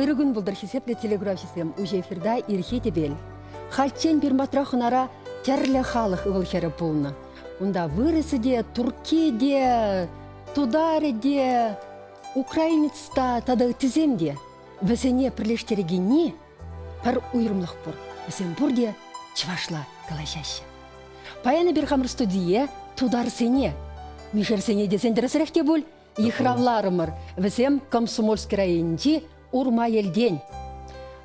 Ырӑ кун пултӑр хисеплӗ телеграфҫӑсем! Уҫӑ эфирта ирхи тӗпел. Хальччен Пирматра хӑнара тӗрлӗ халӑх ывӑл-хӗрӗ пулнӑ. Унта вырӑсӗ те, турки те, тутарӗ те, украинец та тата ыттисем те. Вӗсене пӗрлештерекенни пӗр уйрӑмлӑх пур. Вӗсем пурте чӑвашла калаҫаҫҫӗ. Паян эпир хамӑр студие тутарсене, мишерсене тесен тӗрӗсрех те пуль, Йыхравларӑмӑр вӗсем Комсомольски районӗнчи Урмаелтен.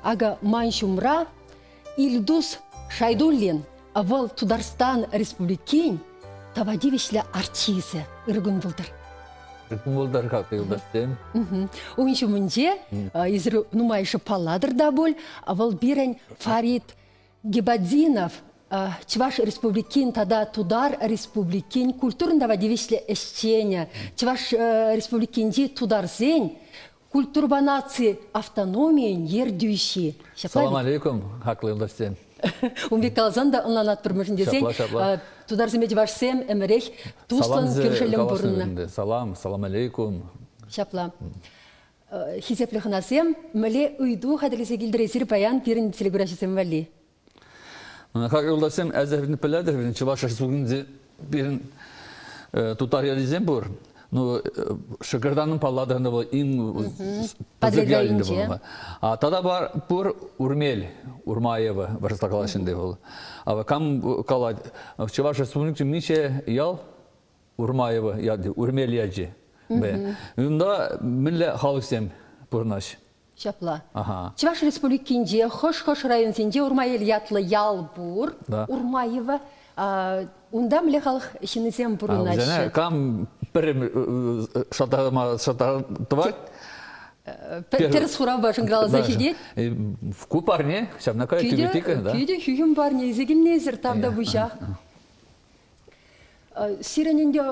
Акӑ ман ҫумра Ильдус Шайдуллин, вӑл Тутарстан Республикин тава тивӗҫлӗ артисчӗ ыркун пултӑр. Ыркун пултӑр-ха, юлташсем. Ун ҫумӗнче нумайӑшӗ палладӑр та пуль, вӑл пирӗн Фарид Гибатдинов Чӑваш Республикин тата Тутар Республикин культурӑн тава тивӗҫлӗ ӗҫченӗ, Чӑваш Республикинчи тутарсен культурӑпа наци автономийӗн ертӳҫи. Салам алейкум, хаклӑ юлташсем. Ун пек каласан та ӑнланатпӑр мӗшӗн тесен тутарсемпе чӑвашсем ӗмӗрех туслӑн кӳршӗллӗн пурӑннӑ. Салам, салам алейкум. Ҫапла. хисеплӗ хӑнасем, мӗнле ыйту хатӗрлесе килтересir паян пирӗн телеграфҫӑсем валли? Харьковласем әзер пӗлетӗр, Чӑваш Республикинче пирӗн тутар ялӗсем пур. Ну, Шӑкӑртанӑн палладӑрында вӑл ин пысӑк ялӗнде пулма. А тата бар пур Урмел, Урмаева, вырса калаҫынде вӑл. А кам калать, Чӑваш Республикинче миҫе ял Урмаево яти, Урмел ячи. Унта мӗнле халӑхсем пурӑнаҫ? Ҫапла. Чӑваш Республикинче хӑш-хӑш районсенче Урмаел ятлӑ ял пур. Урмаево. Унта мӗнле халӑх ҫыннисем пурӑнаҫҫӗ? Кам пӗр шӑтарма тӑвать? Тӗрӗс хуравпа шӑнкӑравласа ҫитет. Ку парне ҫавна кая тӳпе тикрӗ, да? Кӳтӗ хӳхӗм парне илсе килнисӗр там та пуҫах. Сирӗн ӗнтӗ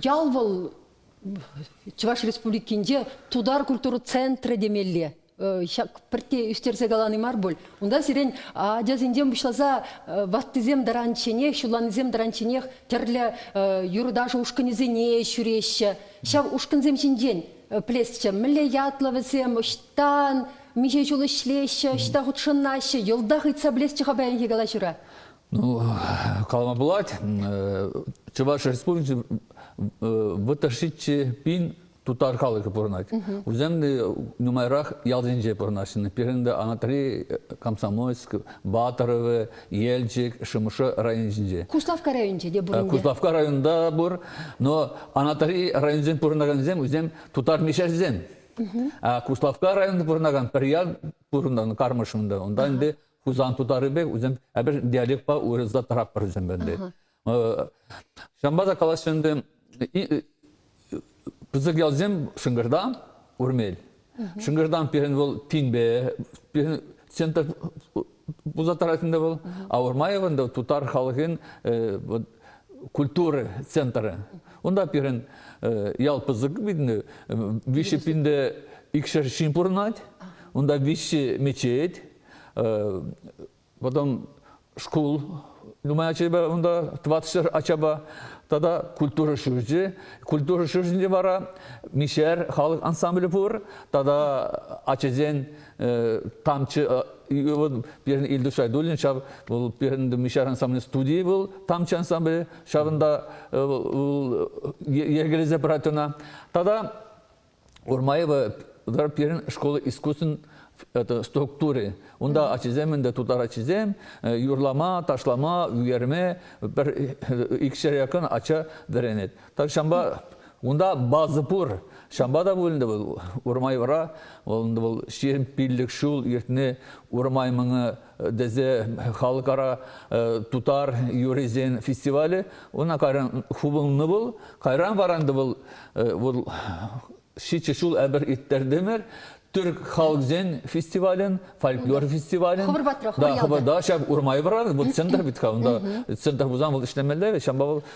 ял вӑл Чӑваш Республикинче тутар культура центрӗ темелле. Ҫак пӗрте ӳстерсе калани мар пуль. Унта сирӗн ачасенчен пуҫласа ваттисем тӑранчченех, ҫулланисем тӑранчченех тӗрлӗ юрӑ-ташӑ ушкӑнӗсене ҫӳреҫҫӗ. Ҫав ушкӑнсем ҫинчен пӗлесчӗ, мӗнле ятлӑ вӗсем, ӑҫтан миҫе ҫул ӗҫлеҫҫӗ, ӑҫта хутшӑнаҫҫӗ, йӑлтах ыйтса пӗлесчӗ-ха паянхи калаҫура. Ну, калама пулать, Чӑваш Республикинчи вӑтӑршиччӗ пин тутар халӑхӗ пурӑнать. Вӗсем те нумайрах ялсенче пурӑнаҫҫӗ. Пирӗн те Анатри, Комсомольск, Батыровы, Елчӗк, Шӑмӑршӑ районӗсенче. Куславкка районӗнче те пур ӗнтӗ. Куславкка районта пур, но Анатри районсенчен пурӑнакансем вӗсем тутар мещерсем. А Куславкка районта пурӑнакан пӗр ял пурӑннӑ Кармышунда. Унта ӗнтӗ Хусан тутарӗпе үзем эпир диалектпа уйрӑлса тӑратпӑр вӗсем бенде. Ҫамбаса калаҫҫӗ ӗнтӗ пысӑк ялсем Шынгырда Урмел. Шынгырдан пирӗн вӑл Пинбе, пирӗн центр пулса тӑратында вӑл, а Урмаевында тутар халӑхин культура центры. Унта пирӗн ял пысӑк видно, виҫе пинде икшер ҫын пурӑнать, унта виҫе мечеть, Потом шкул нумай ачапа унта тӑватӑшар ачапа тата культура ҫурчӗ. Культура ҫурчӗнче вара Мишер халӑх ансамблӗ пур тата ачасен тамчы вот пирӗн Ильдус Шайдуллин ҫав вӑл пирӗн Мишер ансамблӗн студийӗ вӑл тамчы ансамблӗ ҫавӑнта вӑл йӗркелесе пырать ӑна тата Урмаева пирӗн шкул искусствин структури. Унта ачисем ӗнтӗ, тутар ачисем юрлама, ташлама, ӳкерме пӗр икҫер якын ача вӗренет. Так ҫавӑнпа унта база пур. Ҫавӑнпа та пуль ӗнтӗ вӑл Урмаевра вӑл ҫирӗм пиллӗк ҫул иртни Урмай мӑнӗ тесе халыкара тутар юрисен фестивалӗ ӑна кайран хупӑннӑ вӑл кайран варанды вӑл вӑл ҫичӗ ҫул эпир ирттертӗмӗр Түрк халӑхсен фестивалӗн, фольклор фестивалӗн. Хӑвӑр патра, хӑвӑр ялта. Да, ҫав Урмай вара, вот центр бит ха, унда центр пулсан вӑл ӗҫлемелле, ҫавӑнпа вӑл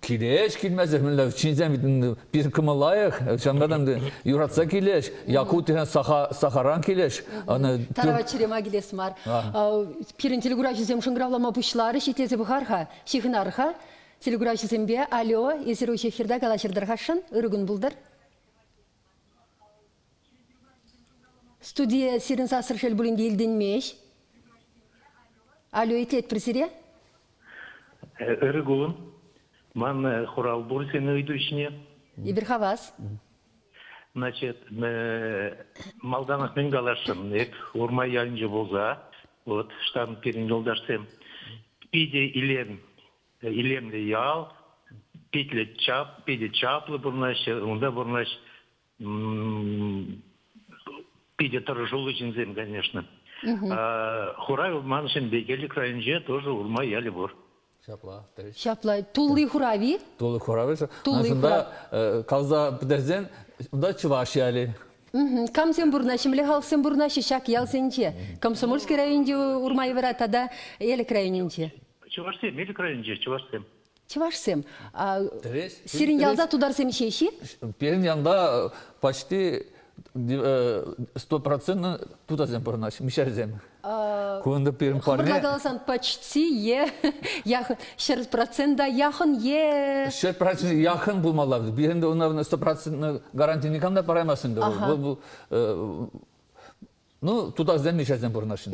Килеш, килмесӗр мӗнле ҫынсем пирӗн кӑмӑл лайӑх, ҫавӑнпа та юратса килеш. Якутия Сахаран килеш. Тарава чӗрема килес мар. Пирӗн телекуравҫӑсем шӑнкӑравлама пуҫларӗҫ, итлесе пӑхар-ха, ҫыхӑнар-ха. Телекуравҫӑсемпе, алло, эсир уҫӑ эфирта калаҫӑр-тӑр-хашшӑн, ырӑ кун пултӑр. Студие сирӗн сассӑр шел пулин те илтӗнмест. Алло итлетпӗр сире. Ырӑ кун. Ман хурал пур сен ыйту ҫине. Эпир хавас. Значит, малтанах мӗн каласшӑн? Эп Урмай ялӗнче пулса, вот штан пирӗн юлташсем питӗ илем, илемлӗ ял, питлӗ чап, питӗ чаплӑ пурӑнаҫҫӗ, унта пурӑнаҫ питӗ тӑрӑшуллӑ ҫынсем, конечно. Хурав маншӑн Бекелик районӗнче тоже Урма ялӗ пур. Ҫапла, тӗл. Ҫапла, тулли хурави? Тулли хурави. Тулли Аншӑнта каласа пӗтерсен, унта чӑваш ялӗ. Камсем пурӑнаҫҫӗ, халӑхсем пурӑнаҫҫӗ ҫак ялсенче? Комсомольски районӗнче Урмаевра тата Элӗк районӗнче? Чӑвашсем, Элӗк районӗнче чӑвашсем. Чӑвашсем, сирӗн ялта тутарсем ҫеҫ-и? Пирӗн ялта почти стопроцентно тутарсем пурӑнаҫҫӗ, мишерсем. Кунта пирӗн парне... Хӑвӑрла каласан почти е яхӑн, ҫӗр процента яхӑн е... Ҫӗр процент яхӑн пулмалла. Пирӗн унта стопроцентно гаранти никам та параймасть ӗнтӗ. Вӑл Ну, тутарсем мишерсем пурӑнаҫҫӗ.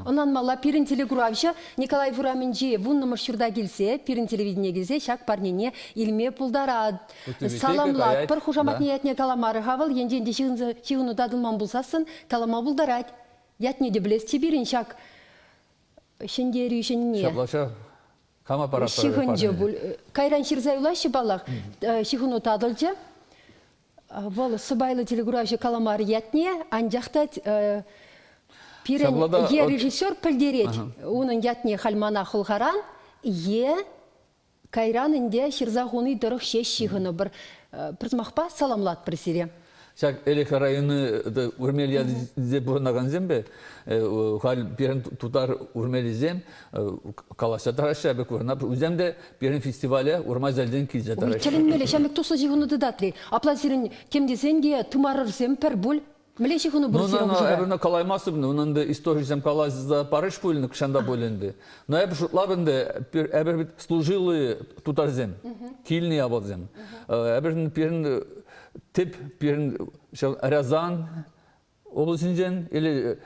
Ӑнланмалла, пирӗн телекуравҫӑ Николаев урамӗнчи вуннӑмӗш ҫурта килсе, пирӗн телевидение килсе ҫак парнене илме пултаратӑр. Саламлатпӑр, пӗр хушаматне ятне каламарӗ-ха вӑл, енчен те ҫыхӑну татӑлман пулсассӑн, калама пултарать. Ятне те пӗлесчӗ пирӗн ҫак ҫӗнтерӳ ҫӗнне. Ҫапла кама паратпӑр? Ҫыхӑнчӗ пуль. Кайран ҫырса юлаҫҫӗ паллах. Ҫыхӑну татӑлчӗ. Вӑл сӑпайлӑ телекуравҫӑ каламар ятне, анчах та пирӗн е режиссер пӗлтерет унӑн ятне халь мана хӑлхаран, е кайран ӗнтӗ ҫырса хуни тӑрӑх ҫеҫ ҫыхӑнӑпӑр. Пӗр сӑмахпа саламлатпӑр сире. Ҫак Элӗк районӗ Урмелье тесе пурӑнакансемпе халь пирӗн тутар урмелисем калаҫса тӑраҫҫӗ эпӗ курӑна. Вӗсем те пирӗн фестивале Урмазелден килсе тӑраҫҫӗ. Тӗлӗнмелле ҫамрӑк туслӑ ҫыхӑну тытать-и? Апла сирӗн тем тесен те тымарӑрсем пӗр пуль? Мӗнле ҫыхӑну пырать сирӗн хушӑра? Эпӗ ӑна калаймастӑп, унӑн та историйӗсем калаҫса парӗҫ пуль, нихҫан пуль ӗнтӗ. Но эпӗ шутлап ӗнтӗ, эпир вӗт служилые тутарсем, килнӗ явӑрсем. Эпир пирӗн тӗп пирӗн Рязан облаҫӗнчен или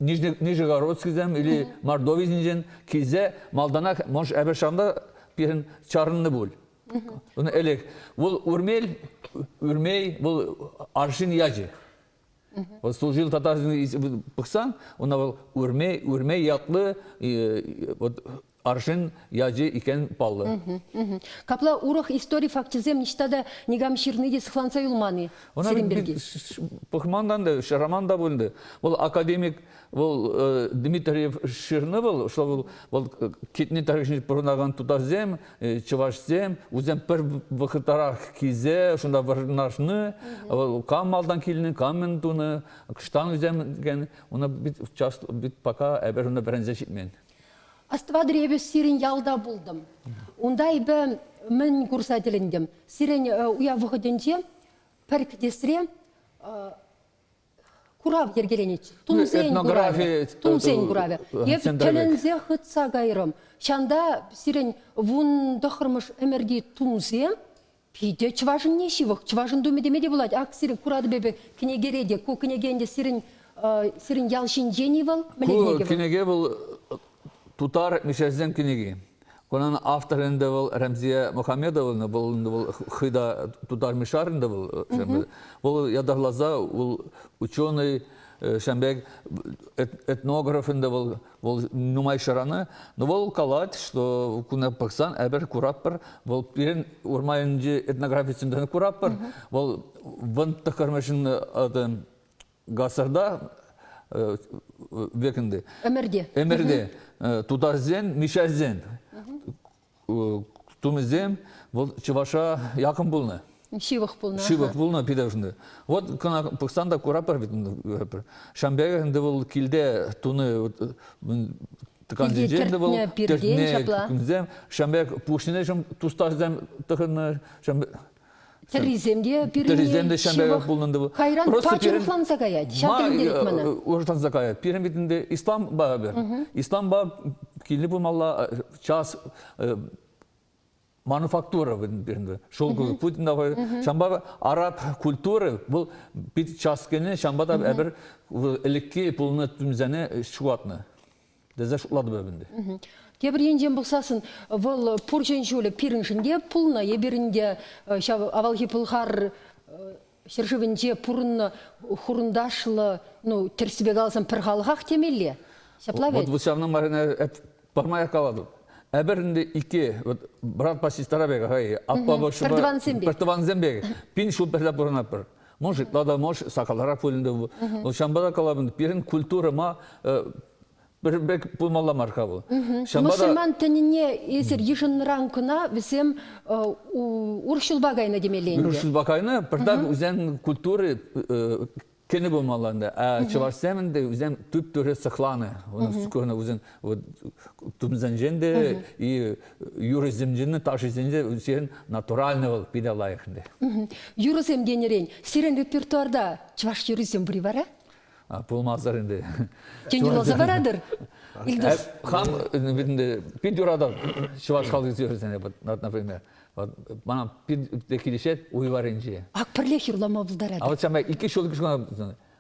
Нижегородскисем или Мордовисенчен килсе малтанах мӑш Әбешанда пирӗн чарӑннӑ пуль. Ун элек вӑл Урмел, Урмей был аршин ячӗ. Вӑл служил татарсен пӑхсан, ӑна вӑл Урмей, Урмей ятлы вот арҫын ячӗ иккен паллӑ. Капла урӑх истори факчӗсем ниҫта та никам ҫырни те сыхланса юлман-и сирӗн пирки? Пӑхмандан та, ҫыраман та пулнӑ. Вӑл академик, вӑл Дмитриев ҫырнӑ вӑл, что вӑл, вӑл китне тарихне пурӑнакан тутарсем, чӑвашсем, вӗсем пӗр вӑхӑтарах килсе шунда вырнаҫнӑ, вӑл кам малтан килнӗ, кам мӗн тунӑ, штанусем, ун пит пока эпир унта вӗренсе ҫитмен. Астватӑр эпӗ сирӗн ялта пултӑм. Унта эпӗ мӗн курса тӗлӗнтӗм? Сирӗн э, уяв вӑхӑтӗнче пӗр кӗтесре э, курав йӗркеленӗччӗ. Тунсен этнографи куравӗ. Тунсен куравӗ. Эп тӗлӗнсе хытса кайрӑм. Ҫанта сирӗн вун тӑхӑрмӗш ӗмӗрти тунсе Питӗ чӑвашӑнне ҫывӑх, чӑвашӑн тумӗ теме те пулать. Ак сирӗн куратӑп эпӗ кӗнекере те. Ку кӗнеке ӗнтӗ сирӗн, сирӗн ял ҫинчен-и вӑл? Ку кӗнеке вӑл тутар мещанӗсен кӗнеки. Унӑн авторӗ ӗнтӗ вӑл Рәмзия Мухамедовна, вӑл вӑл хӑй та тутар мишарин та вӑл. Вӑл ятарласа, вӑл ученый, ҫавӑн пек этнограф ӗнтӗ вӑл, Вӑл нумай шыранӑ, но вӑл калать, что куна пӑхсан эпир куратпӑр, вӑл пирӗн урманӗнчи этнографисенчен куратпӑр, вӑл вӑн тӑххӑрмӗшӗн гасырда векінде. Эмирде. Эмирде. Тутарсен, мишәрсен тумӗсем вӑл чӑваша якын пулнӑ. Ҫывӑх пулнӑ. Ҫывӑх пулнӑ питӗ ӑшӑнды. Вот кӑна пӑхсан та куратпӑр вӗт ӗнтӗ. Шамбер ӗнтӗ вӑл килте туны тӑкансенчен ӗнтӗ вӑл тертне кунсем Шамбер пуҫне шӑм тустарсем тӑхӑннӑ Тӗррисем те пирӗн Тӗррисем те ҫанталӑк пулнӑ тӑвӑ. Кайран патшалӑхланса каять. Ҫак ӗнтӗлет мана. Урӑхланса каять. Пирӗн витӗн те ислам ба эпир. Ислам ба киле пымалла час мануфактура пирӗн шел путин да ҫамба араб культуры бұл пит час кене ҫамба да эпир элекке пулнӑ түмсене шуатнӑ тесе шутлатӑп эп ӗнтӗ. Тепӗр енчен пӑхсассӑн вӑл пурҫӑн ҫулӗ пирӗншӗн те пулнӑ, эпирӗн те ҫав авалхи пӑлхар ҫӗршывӗнче пурӑннӑ хурӑнташлӑ, ну тӗрӗссипе каласан пӗр халӑхах темелле. Ҫапла вӗт. Вот вот ҫавна май пӗрмай калатӑп. Эпир ӗнтӗ икки, вот братпа сестра пек, хай, аппа, бабушка, пӗртӑвансем пек. Пӗртӑвансем пек. Пин ҫул пӗрле пурӑнатпӑр. Может, надо, может, сакаларах пулин те бу. Но ҫамбара калабын пирӗн культурӑма пӗр пек пулмалла мар-ха бу. Мусульман тӗнне эсир йышӑннӑран кӑна вӗсем урҫулпа кайнӑ темелле ӗнтӗ. Урҫулпа кайнӑ, пӗртак вӗсен культури кӗнӗ пулмалла ӗнтӗ. А чӑвашсем ӗнтӗ вӗсем түп-түре сыхланӑ. Курнӑ вӗсен Вот тумсенчен те и юрӑсенчен, ташисенчен сен натуральный вӑл питӗ лайӑх ӗнтӗ. Юрӑсем тенӗрен, сирӗн репертуарта чӑваш юррисем пур-и вара? Пулмасӑр ӗнтӗ. Тен, юрласа паратӑр? Илдус. Хам пит юратам чӑваш халӑх юррисене, например. Мана пит килӗшет уй варринче. Ак пӗрлех юрлама пултарать. А вот икӗ ҫул кӑна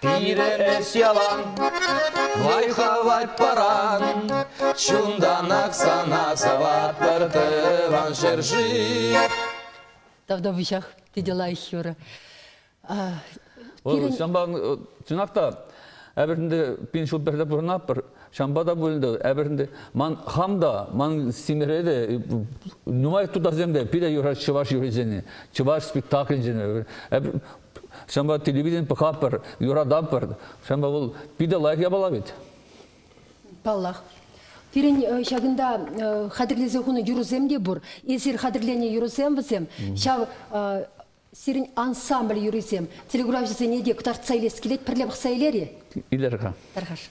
Пирӗн эс ялан лайӑхлатать паран. Чунтанах сана саватпӑр тӑван ҫӗршыв. Тавда выҫах, тете лайӑх юрӑ. Вӑл ҫампа чӑнах та Эпӗрнде пин ҫул пӗрле пурӑнатпӑр. Ҫампа та пулӗ Эпӗрнде ман хам та, ман семьере те нумай тутарсем те пире юрать чӑваш юррисене, чӑваш спектакльсене. Ҫавӑнпа телевиден пӑхатпӑр, юрататпӑр. Ҫавӑнпа вӑл питӗ лайӑх япала вӗт. Паллах. Пирӗн э, ҫакӑнта э, хатӗрлесе хунӑ юрӑсем те пур. Эсир хатӗрленӗ юрӑсем вӗсем ҫав э, сирӗн ансамбль юррисем телеграфҫӑсене те кӑтартса илес килет. Пӗрле пӑхса илер-и? Илер-ха. Тархаш.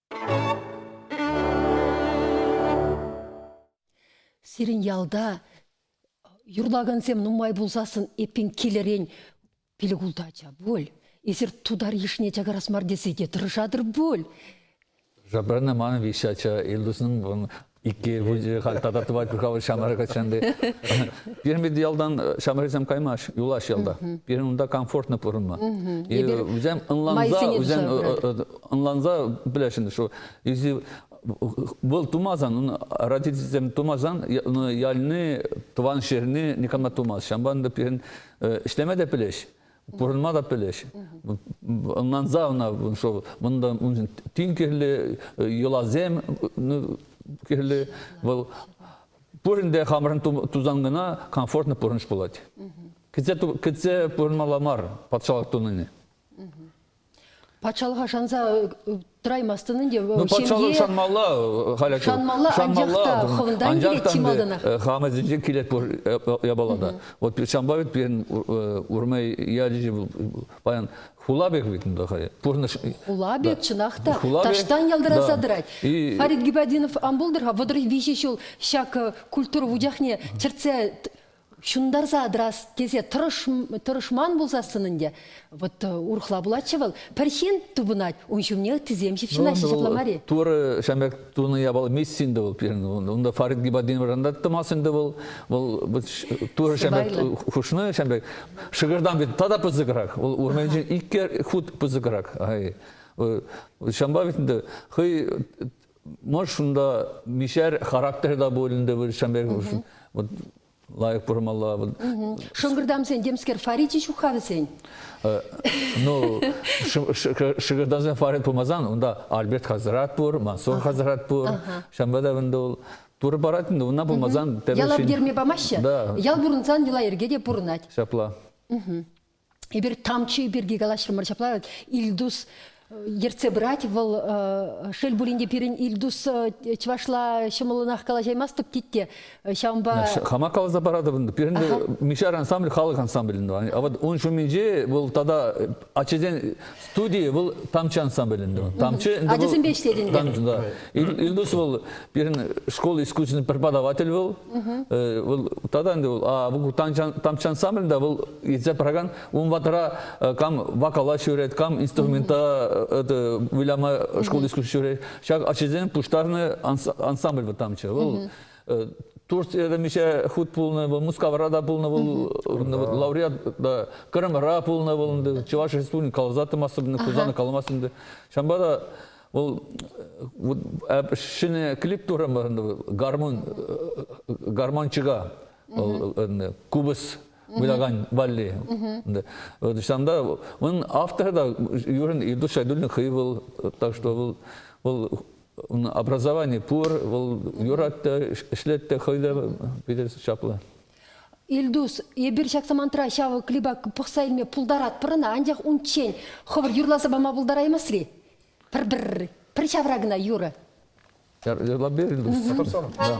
Сирӗн ялта юрлакансем нумай пулсассӑн эппин килӗрен пилӗк ултӑ ача пуль. Эсир тутар йышне чакарас мар тесе те тӑрӑшатӑр пуль. Забрана ман виҫӗ ача, Илдусның Икӗ ел пулчӗ, халь тата тӑвать кӑкавӑл ҫамрӑк ачанти. Пирмет ялтан ҫамрӑксем каймаҫ, юлаҫ ялта. Пирӗн унта комфортно пурӑнма. Вӗсем ӑнланса, вӗсем ӑнланса пӗлесшӗн, что если был тумасан, ун родительсем тумасан, ялni, тӑван ҫӗрне никама тумас. Ҫавӑнпа пирӗн ӗҫлеме те пӗлеҫ. пурӑнма та пӗлӗҫ. Ӑнланса ӑна, что ундан уншӑн тин кирлӗ йӑласем ну, кирлӗ. Вӑл пурин те хамӑрӑн тусан кӑна комфортно пурӑнӑш пулать. Кӗтсе кӗтсе пурӑнмалла мар патшалӑх тунине. Патшалӑха шанса тӑраймастӑн ӗнтӗ. Ну, патшалӑх шанмалла халь шанмалла, шанмалла. анчах та ӗнтӗ хамасенче килет япала та. Вот ҫавӑнпа вӗт пирӗн Урмай ячӗ паян Хулабек вит унта хай. Пурнӑҫ. Хулабек чӑнах та таҫтан ялтараса тӑрать. Фарид Гибадинов ан пултӑр-ха вӑтӑр виҫӗ ҫул ҫак культура вучахне чӗртсе ҫунтарса тӑрас тесе тӑрӑшман пулсассӑн ӗнтӗ вот урӑхла пулатчӗ вӑл пӗр ҫын тупӑнать ун ҫумне ыттисем ҫыпҫӑнаҫҫӗ ҫапла мар-и турӑ ҫамрӑк тунӑ япал эмес ӗнтӗ вӑл пирӗн унта Фарид Гибатдиновран аттӑмас ӗнтӗ вӑл вӑл турӑ ҫамрӑк хушнӑ ҫамрӑк шӑкӑртан бит тата пысӑкрах вӑл урманӗнчен иккӗ хут пысӑкрах ай ҫампа вӗт ӗнтӗ хӑй Мӑш шунда мишер характер та пуль ӗнтӗ вӑл ҫам пек вот лайӑх пурмалла. Шӑнкӑртамсен темскер фаричӗ ҫук-ха вӗсен? Ну, шӑнкӑртамсен фарит пулмасан, унта Альберт хазрат пур, Мансур хазрат пур. Ҫамба та вӗнде ул туры парать ӗнтӗ, унна пулмасан... Яла пӗтерме памаҫҫӗ. Ял пурӑнсан йӑла-йӗрке те пурӑнать. Ҫапла. Эпир тамчи пирки калаҫрӑмӑр ҫапла. Ильдус ертсе пырать вӑл шел пулин те пирӗн Ильдус чӑвашла ҫӑмӑллӑнах калаҫаймастӑп тетте ҫавӑнпа хама каласа паратӑп пирӗн Мишар ансамбль халӑх ансамблӗ а вот ун ҫумӗнче вӑл тата ачасен Студи вӑл тамчы ансамбль ӗнтӗ. Тамчы ӗнтӗ ачасемпе ӗҫлет ӗнтӗ. Тамчы да. Ильдус вӑл пирӗн школ искусствин преподаватель вӑл. Вӑл тата ӗнтӗ вӑл тамчы ансамбльда вӑл илсе пыракан ун ватра кам вокала ҫӳрет, кам инструмента выляма шкул искусств ҫӳрет. Ҫак ачасен пуҫтарнӑ ансамбль вӑл тамчы. Вӑл Турцияда миҫе хут пулнӑ вӑл, Мускавра та пулнӑ вӑл, лауреат та, Кырымра пулнӑ вӑл ӗнтӗ, Чӑваш Республикин каласа тӑмастӑп, Хусана каламастӑп ӗнтӗ. Ҫавӑнпа та вӑл ҫӗнӗ клип турӑмӑр ӗнтӗ, гармун, гармончика, кубыс вылякан валли. Ҫавӑнта унӑн авторӗ та Юрин Ирдуш Шайдуллин хӑй вӑл, так что вӑл Ун образовани пур, вӑл юрать та, ӗҫлет те хӑй те питӗ чаплӑ. Ильдус, эпир ҫак самантра ҫав клипа пӑхса илме пултаратпӑр ӑна, анчах унччен хӑвӑр юрласа пама пултараймастри. Пӗр-пӗр, пӗр ҫавра кӑна юрӑ. Юрлап-и, Ильдус? Да.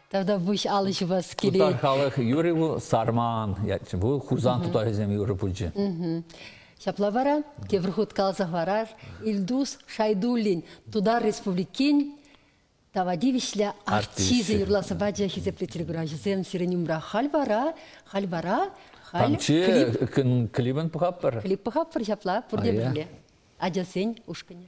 Тата выҫ алӑ ҫупас килет. Тутар халӑх юрӗ ву сарман ятчӗ. Ву Хусан тутарӗсем юрӑ пулчӗ. Ҫапла вара тепӗр хут каласа хӑварар Ильдус Шайдуллин Тутар Республикин тава тивӗҫлӗ артисчӗ юрласа пачӗ хисеплӗ телекуравҫӑсем сирӗн умра халь вара халь вара халь клип клипӗн пӑхаппӑр клип пӑхаппӑр ҫапла пурте пӗрле ачасен ушкӑнӗ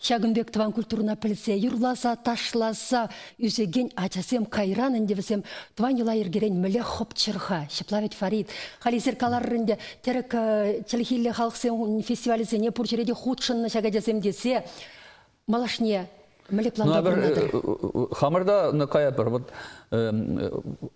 Ҫакӑн пек тӑван культурӑна пӗлсе, юрласа, ташласа ӳсекен ачасем кайран ӗнтӗ вӗсем тӑван йӑла-йӗркерен мӗнле хӑпчӑр-ха, ҫапла вӗт, Фарид. Халисер каларӑр ӗнтӗ, тӗрӗк э, чӗлхиллӗ халӑхсен фестивалӗсене пур ҫӗре те хутшӑннӑ ҫак ачасем тесе малашне мӗнле планпа пурӑнатӑр? Хамӑр та каятпӑр. Вот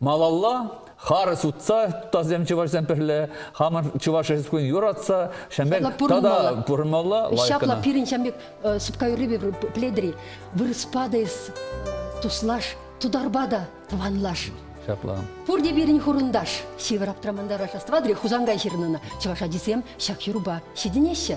Малалла харӑс утса тутасем чӑвашсем пӗрле хамӑр чӑваш Республикин юратса ҫамбек тата пурӑнмалла ҫапла пирӗн ҫамбек сыпка юррипе пледри вырӑспа та эс туслаш тутарпа та тӑванлаш ҫапла пурте пирӗн хурӑнташ ҫывӑр аптраманта рождество хусан ҫырнӑ чӑваш ачисем ҫак юрӑпа ҫитӗнеҫҫӗ